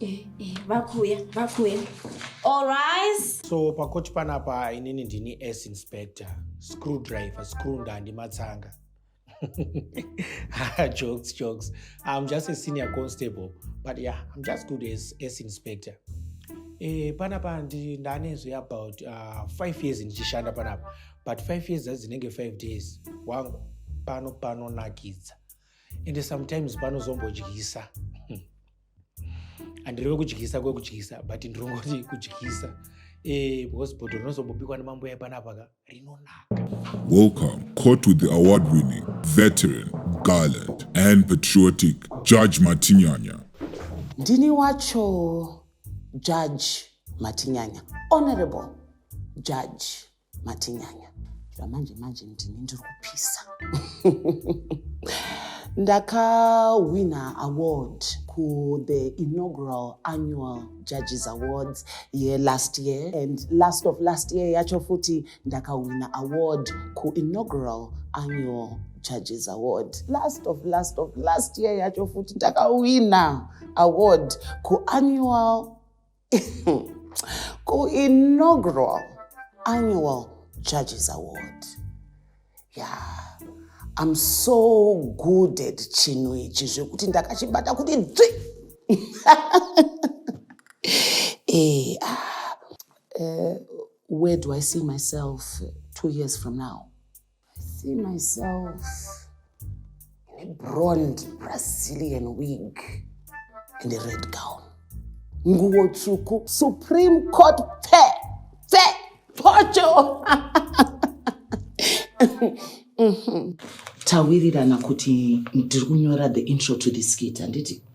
Eh, eh, vakuya vakuya allrise so pakoti panapa inini ndini s inspector screw driver screw ndandi matsanga ah, jokes jokes i'm just a senior constable but yeah i'm just good as s inspector eh, panapa ndanezve about uh, five years ndichishanda panapa but five years dzazi dzinenge five days wangu pano panonakidza ende sometimes panozombodyisa handireve kudyisa kwekudyisa but ndirongoti kudyisa eh, because bhodho rinozombobikwa nemambuya epanapa ka rinonaka welcome caught with the award winning veteran gallant and patriotic judge matinyanya ndini wacho judge matinyanya honorable judge matinyanya zvamanje manje ndini ndiri kupisa ndakahwina award kuthe inaugural annual judges awards yelast year and last of last year yacho futi ndakahwina award kuinaugural annual judges award last of last of last year yacho futi ndakahwina award kuannual kuinaugural annual judges award ya yeah. I'm so good at chinhu ichi zvekuti ndakachibata kuti dzvi eh, ah, uh, where do I see myself two years from now? see myself in a blonde Brazilian wig and a red gown. Nguo tsvuku, Supreme Court pfe, pfe, pocho. Tawirirana kuti ndiri kunyora the intro to this skit handiti?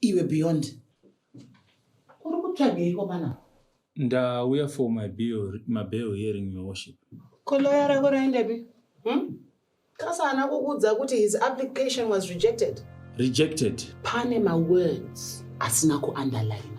Iwe Beyond, uri kutsvagei komana? Ndauya for my bill, my bail hearing your worship. Ko lawyer rako raendepi? Hmm? Kasa ana kukuudza kuti his application was rejected. Rejected? Pane ma words asina kuunderline.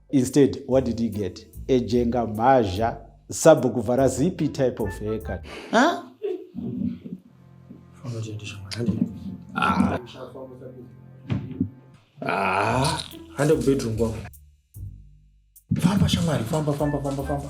Instead, what did he get? A jenga mazha, sabhuku vhara zipi type of haircut. Huh? Ah. Ah. Hande kubedroom kwangu. Famba shamwari, famba, famba, famba, famba.